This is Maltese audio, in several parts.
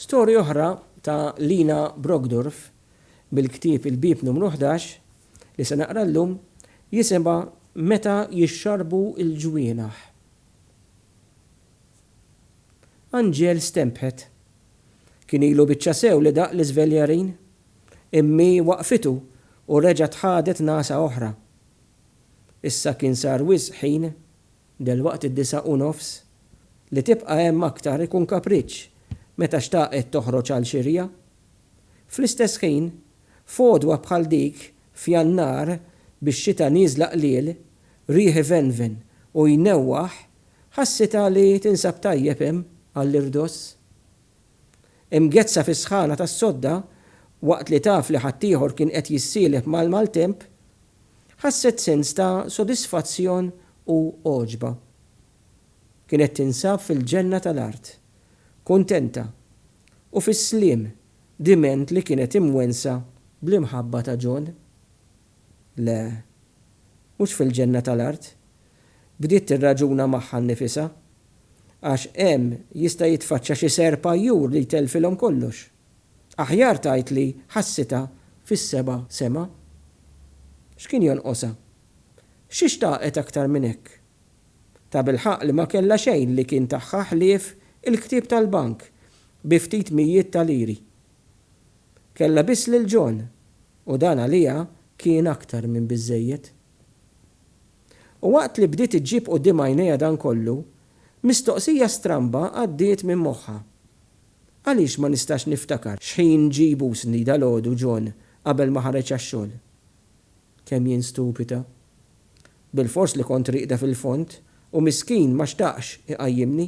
Storja oħra ta' Lina Brockdorff mill-ktieb Il-Bieb Numru Ħdax li se naqra llum jisimha Meta Jixxarrbu l-Ġwienaħ. Anġel stenbħet. Kien ilu biċċa sew li daqq l-iżveljarin. Immi waqqfitu u reġgħet ħadet nagħsa oħra. Issa kien sar wisq ħin Delwaqt id-disa' u nofs. Li tibqa' hemm aktar ikun kapriċċ meta xtaqet toħroġ għal xirja. Fl-istess ħin, f'għodwa bħal dik f'Jannar bix-xita nieżla qliel, riħ ivenven u jnewwaħ, ħassitha li tinsab tajjeb hemm għall-irdoss. Imgezzha fis-sħana tas-sodda, waqt li taf li ħaddieħor kien qed jissieleb mal-maltemp, ħasset sens ta' sodisfazzjon u għoġba. Kienet tinsab fil-ġenna tal-art, kuntenta, u fis-sliem diment li kienet imwensa bl-imħabba ta' John. Le, mhux fil-ġenna tal-art. Bdiet tirraġuna magħha nnifisha. Għax hemm jista' jitfaċċa xi serp għajjur li jtellfilhom kollox. Aħjar tgħid li ħassitha fis-seba' sema. X'kien jonqosha? Xi xtaqet aktar minn hekk? Tabilħaqq li ma kellha xejn li kien tagħha ħlief il-ktieb tal-bank bi ftit mijiet ta' liri. Kellha biss lil John, u dan għaliha kien aktar minn biżżejjed. U waqt li bdiet iġġib quddiem għajnejha dan kollu, mistoqsija stramba għaddiet minn moħħha. Għaliex ma nistax niftakar x'ħin ġie jbusni dalgħodu John qabel ma ħareġ għax-xogħol? Kemm jien stupita! Bilfors li kont rieqda fil-fond u miskin ma xtaqx iqajjimni.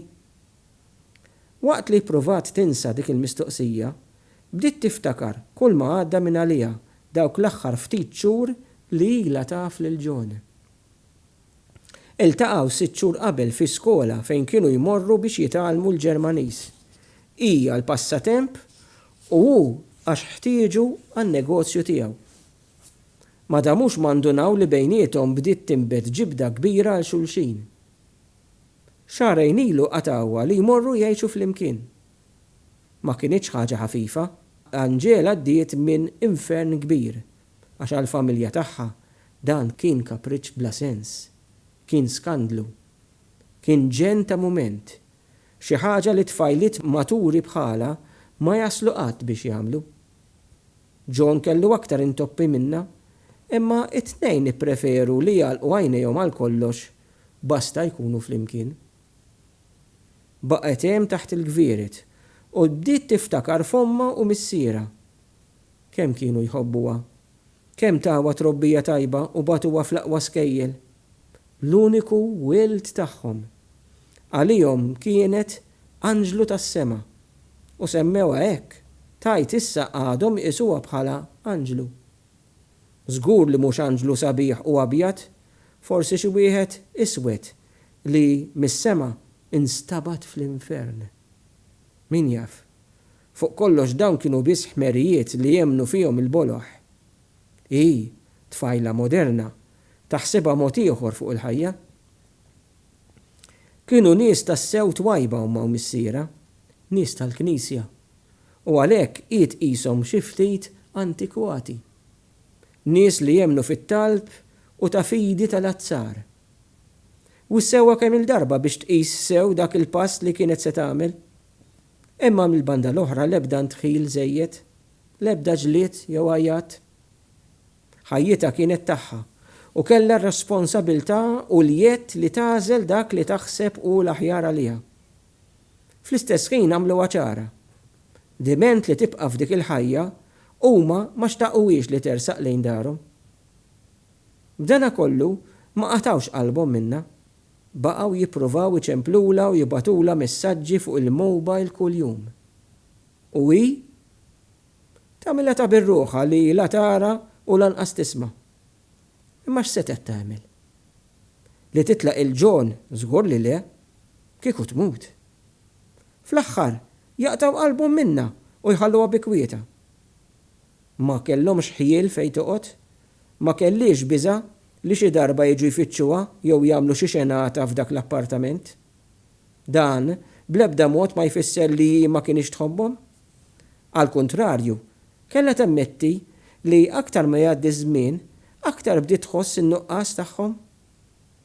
Waqt li ppruvat tinsa dik il-mistoqsija, bdiet tiftakar kull ma għadda minn għaliha dawk l-aħħar ftit xhur li ilha taf lil John. Iltaqgħu sitt xhur qabel fi skola fejn kienu jmorru biex jitgħallmu l-Ġermaniż, hi għall-passatemp u hu għax ħtieġu għan-negozju tiegħu. Ma damux ma ndunaw li bejniethom bdiet tinbet ġibda kbira għal xulxin. Xahrejn ilu qatgħuha li jmorru jgħixu flimkien. Ma kinitx ħaġa ħafifa. Anġel għaddiet minn infern kbir għax għall-familja tagħha dan kien kapriċċ bla sens. Kien skandlu. Kien ġenn ta' mument. Xi ħaġa li tfajliet maturi bħalha ma jaslu qatt biex jagħmlu. John kellu aktar intoppi minnha, imma t-tnejn ippreferu li jagħlqu għajnejhom għal kollox basta jkunu flimkien. Baqgħet hemm taħt il-gvieret u bdiet tiftakar f'ommha u missierha. Kemm kienu jħobbuha. Kemm tawha trobbija tajba u bagħtuha fl-aqwa skejjel. l-uniku Wild tagħhom. Għalihom kienet anġlu tas-sema, u semmewha hekk tgħid issa għadhom iqisuha bħala anġlu. Żgur li mhux anġlu sabiħ u abjad, forsi xi wieħed iswed li mis-sema instabad fl-infern. Min jaf? Fuq kollox dawn kienu biss ħmerijiet li jemmnu fihom il-boloh. Hi, tfajla moderna, taħsibha mod ieħor fuq il-ħajja. Kienu nies tassew twajba ommha u missierha, nies tal-Knisja, u għalhekk hi tqishom xi ftit antikwati. Nies li jemmnu fit-talb u ta' fidi tal-azzar. Wissewha kemm-il darba biex tqis sew dak il-pass li kienet se tagħmel. Imma mill-banda l-oħra l-ebda ndħil żejjed. L-ebda ġlied jew għajat. Ħajjitha kienet tagħha u kellha r-responsabilità u l-jedd li tagħżel dak li taħseb hu l-aħjar għaliha. Fl-istess ħin għamluha ċara. Diment li tibqa' f'dik il-ħajja, huma ma xtaquhiex li tersaq lejn darhom. B'dana kollu ma qatgħux qalbhom minnha. Baqgħu jippruvaw iċemplulha u jibgħatulha messaġġi fuq il-mowbajl kuljum. U hi? Tagħmilha tagħbir ruħha li la tara u lanqas tisma'. Imma x'setgħet tagħmel? Li titlaq il-ġon żgur li le. Kieku tmut. Fl-aħħar, jaqtgħu qalbhom minnha u jħalluha bi kwietha. Ma kellhomx ħjiel fejn toqgħod. Ma kellhiex biża' li xi darba jiġu jfittxuha jew jagħmlu xi xenata f'dak l-appartament. Dan bl-ebda mod ma jfisser li hi ma kinitx tħobbhom. Għall-kuntrarju, kellha tammetti li aktar ma jgħaddi ż-żmien, aktar bdiet tħoss in-nuqqas tagħhom,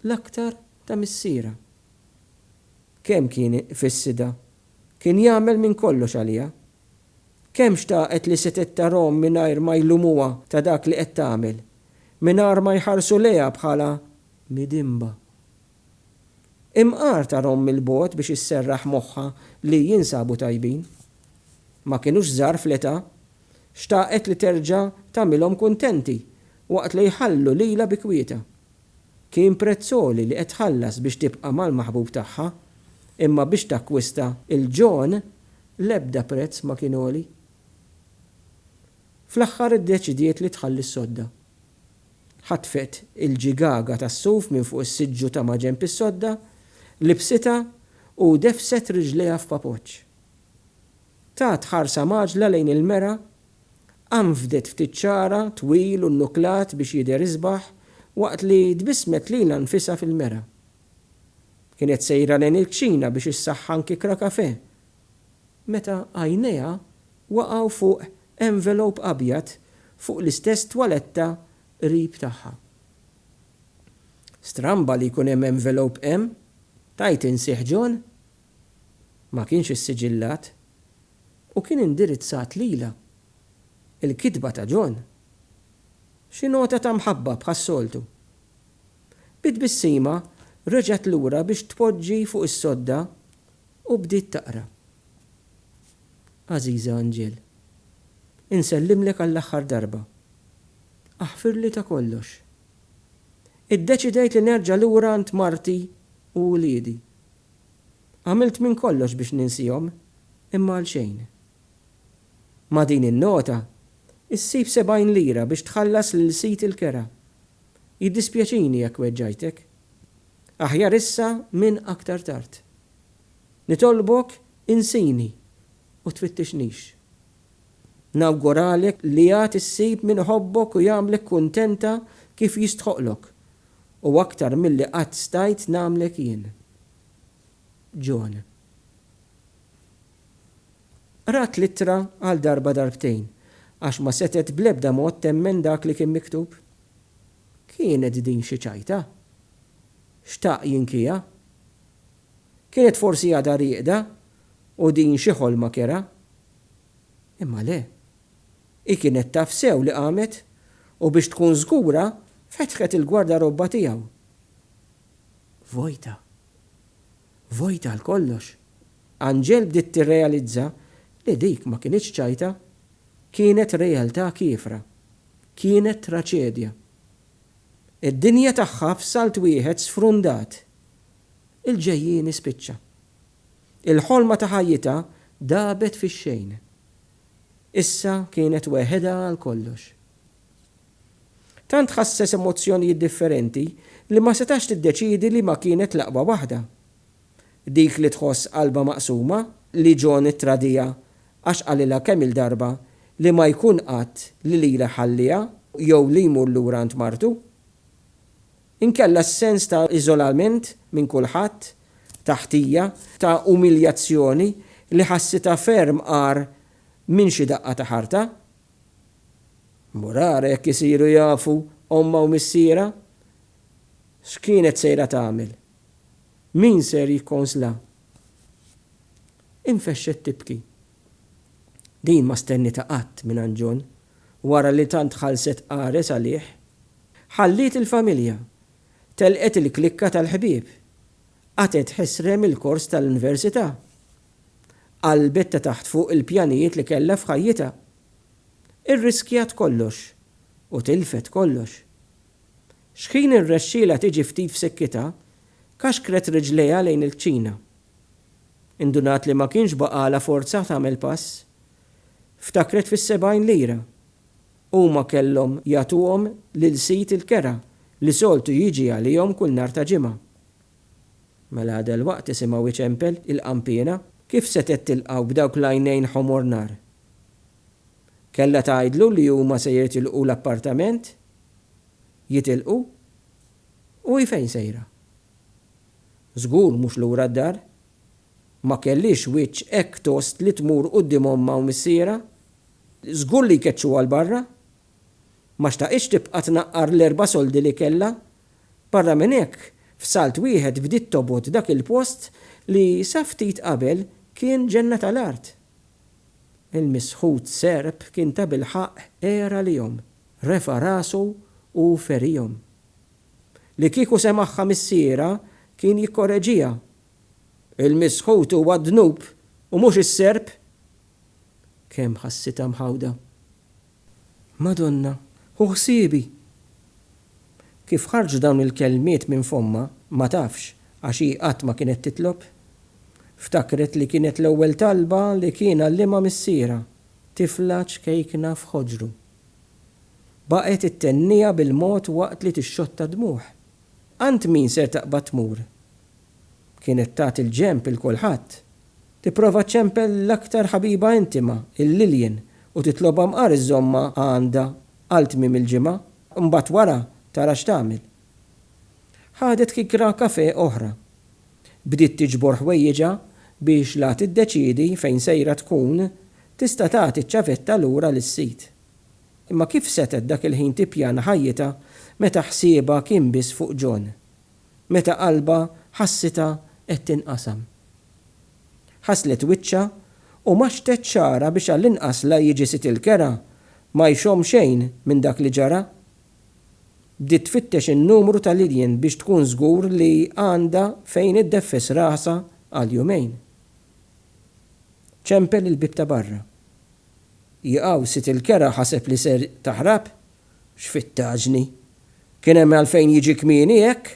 l-aktar ta' missierha. Kemm kien ifissidha! Kien jagħmel minn kollox għaliha. Kemm xtaqet li setgħet tarahom mingħajr ma jlumuha ta' dak li qed tagħmel, mingħajr ma jħarsu lejha bħala midinba. Imqar tarhom mill-bogħod biex isserraħ moħħha li jinsabu tajbin. Ma kinux żgħar fl-età. Xtaqet li terġa' tagħmilhom kuntenti waqt li jħallu lilha bi kwietha. Kien prezz għoli li qed tħallas biex tibqa' mal-maħbub tagħha, imma biex takkwista 'l John l-ebda prezz ma kien għoli. Fl-aħħar iddeċidiet li tħalli s-sodda. Ħatfet il-ġigaga tas-suf minn fuq is-siġġu ta' maġenb is-sodda, libsitha u defset riġlejha f'papoċċ. Tat ħarsa mgħaġġla lejn il-mera, qanfdet ftit xagħarha twil u nnuklat biex jidher isbaħ waqt li tbissmet lilha nfisha fil-mera. Kienet sejra lejn il-kċina biex issaħħ anki krakafè. meta għajnejha waqgħu fuq envelope abjad fuq l-istess twaletta qrib tagħha. Stramba li jkun hemm envelope hemm, tgħid insih John. Ma kienx issiġillat u kien indirizzat lilha. Il-kitba ta' John. Xi nota ta' mħabba bħas-soltu. Bi tbissima reġgħet lura biex tpoġġi fuq is-sodda u bdiet taqra, Għażiża Anġel, insellimlek għall-aħħar darba. Aħfirli ta' kollox. Iddeċidejt li nerġa' lura għand marti u uliedi. Għamilt minn kollox biex ninsihom, imma għal xejn. Ma' din in-nota, issib sebgħin lira biex tħallas lil sid il-kera. Jiddispjaċini jekk weġġajtek. Aħjar issa minn aktar tard. Nitolbok insini u tfittixnix. Nawguralek li għad issib min iħobbok u jagħmlek kuntenta kif jistħoqqlok u aktar milli qatt stajt nagħmlek jien. John. Qrat l-ittra għal darba darbtejn, għax ma setgħet bl-ebda mod temmen dak li kien miktub. Kienet din xi ċajta? Xtaq jinkiha? Kienet forsi għadha rieqda u din xi ħolma kerha? Imma le. Hi kienet taf sew li qamet u biex tkun żgura fetħet il-gwardarobba tiegħu. Vojta. vojta għal kollox. Angèle bdiet tirrealizza li dik ma kinitx ċajta, kienet realtà kiefra. Kienet traċedja. Id-dinja tagħha f'salt wieħed sfrundat. Il-ġejjieni spiċċa. Il-ħolma ta' ħajjitha dabet fix-xejn. Issa kienet weħedha għal kollox. Tant ħasses emozzjonijiet differenti li ma setax tiddeċiedi liema kienet l-aqwa waħda. Dik li tħoss qalbha maqsuma li John ittradiha għax qalilha kemm-il darba li ma jkun qatt li lilha jħalliha jew li jmur lura għand martu. Inkella s-sens ta' iżolament minn kulħadd, ta' ħtija, ta' umiljazzjoni li ħassitha ferm agħar minn xi daqqa ta' ħarta. Murara jekk isiru jafu ommha u missierha x'kienet sejra tagħmel? Min ser jikkonslha? Infexxet tibki. Din ma stennitha qatt mingħand John wara li tant ħallset qares għalih. Ħalliet il-familja. Telqet il-klikka tal-ħbieb. Qatgħet ħesrem il-kors tal-università. Qalbet ta' taħt fuq il-pjanijiet li kellha f'ħajjitha. Irriskjat kollox u tilfet kollox. Xħin irnexxielha tiġi ftit f'sikkitha, kaxkret riġlejha lejn il-kċina. Indunat li ma kienx baqgħalha forza tagħmel pass. Ftakret fis-sebgħin lira. Huma kellhom jagħtuhom lil sid il-kera li soltu jiġi għalihom kull nhar ta' Ġimgħa. Mela delwaqt isimgħu iċempel il-qanpiena. Kif setgħet tilqgħu b'dawk l-għajnejn ħomor nar? Kellha tgħidlu li huma se jirtilqu l-appartament? Jitilqu? U hi fejn sejra? Żgur mhux lura d-dar. Ma kellhiex wiċċ hekk tost li tmur quddiem ommha u missierha. Żgur li jkeċċuha 'l barra. Ma xtaqitx tibqa' tnaqqar l-erba' soldi li kellha Barra minn hekk, f'salt wieħed bdiet tobgħod dak il-post li sa ftit qabel kien ġenna tal-art. Il-misħut Serb kien tabilħaqq għer għalihom, refa' rasu u ferihom. Li kieku semagħha missierha kien jikkoreġiha, Il-misħut huwa d-dnub u mhux is-Serb! Kemm ħassitha mħawda. Madonna, ħu ħsiebi! Kif ħarġu dawn il-kelmiet minn fommha ma tafx għax hi qatt ma kienet titlob. Ftakret li kienet l-ewwel talba li kien għallimha missierha, tifla ċkejkna f'ħoġru. Baqgħet ittenniha bil-mod waqt li tixxotta d-dmugħ. Għand min ser taqbad tmur? kienet tagħti l-ġenb 'il kulħadd, tipprova ċċempel l-aktar ħabiba intima, il-Lilien, u titlobha mqar iżżommha għandha għal tmiem il-ġimgħa, mbagħad wara tara x'tagħmel. Ħadet kikra kafè oħra. Bdiet tiġbor ħwejjiġha biex la tiddeċiedi fejn sejra tkun tista' tagħti ċ-ċavetta lura lis-sid. Imma kif setgħet dak il-ħin tippjana ħajjitha meta ħsiebha kien biss fuq John? meta qalbha ħassitha qed tinqasam. Ħaslet wiċċha u maxxtet xagħarha biex għall-inqas la jiġi Sid il-Kera ma jxomm xejn minn dak li ġara. Bdiet tfittex in-numru ta' Lillian biex tkun żgur li għandha fejn iddeffes rasha għal jumejn. Ċempel il-bieb ta' barra. Jqaw Sid il-Kera ħaseb li ser taħrab? X'fittaġni! Kien hemm għalfejn jiġi kmieni hekk?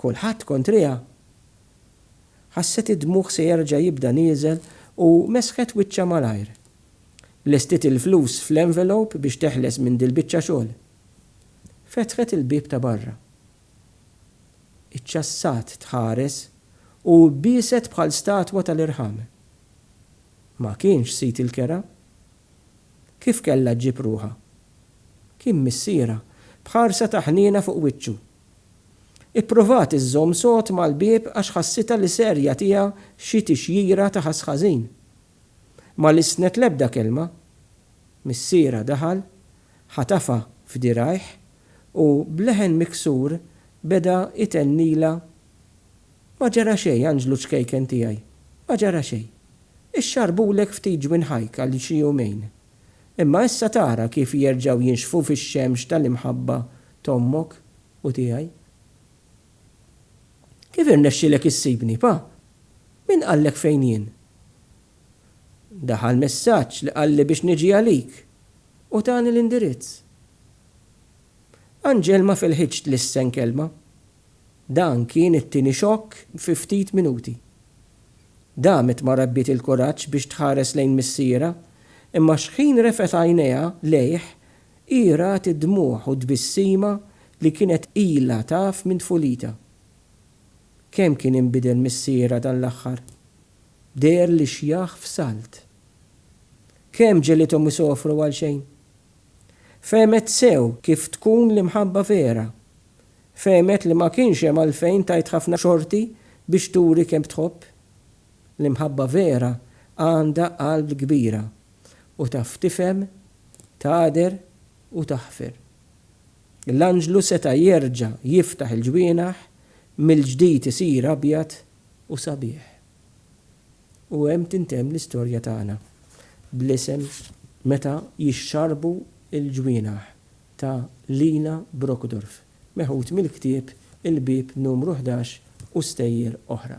Kulħadd kontriha. Ħasset id-dmugħ se jerġa' jibda nieżel u mesħet wiċċha malajr. Lestiet il-flus fl-envelope biex teħles minn dil-biċċa xogħol. Fetħet il-bieb ta' barra. Iċċassat tħares u bieset bħal statwa tal-irħam. Ma kienx sid il-kera. Kif kellha ġġib ruħha? Kien missierha, b'ħarsa ta' ħniena fuq wiċċu. Ipprovat iżżomm sod mal-bieb għax ħassitha li ser jagħtiha xi tixjira ta' ħass ħażin. Ma lissnet l-ebda kelma. Missierha daħal, ħatafha f'dirgħajh u b'leħen miksur beda jtennilha Ma ġara xejn, anġlu ċkejken tiegħi. Ma ġara xejn. Ixxarrbulek ftit ġwinħajk għal xi jumejn. Imma issa tara kif jerġgħu jinxfu fix-xemx tal-imħabba t'ommok u tiegħi. Kif irnexxielek issibni, pa? Min qallek fejn jien? Daħal messaġġ li qalli biex niġi għalik u tani l-indirizz. Angel ma filħitx tlissen kelma. Dan kien it-tieni xokk fi ftit minuti. Damet ma rebbiet il-kuraġġ biex tħares lejn missierha, imma xħin refgħet għajnejha lejh hi rat id-dmugħ u t-tbissima li kienet ilha taf minn tfulitha. Kemm kien inbidel missierha dan l-aħħar. Deher li xjah f'salt. Kemm ġegħlithom isofru għalxejn. Fehmet sew kif tkun l-imħabba vera. Fehmet li ma kienx hemm għalfejn tgħid ħafna xorti biex turi kemm tħobb. L-imħabba vera għandha qalb kbira u taf tifhem, tagħder u taħfer. L-anġlu seta' jerġa' jiftaħ il-ġwienaħ mill-ġdid isir abjad u sabiħ. U hemm tintemm l-istorja tagħna bl-isem meta jixxarrbu l-ġwienaħ ta' Lina Brockdorff, meħud mill-ktieb Il-Bieb Numru Ħdax u stejjer oħra.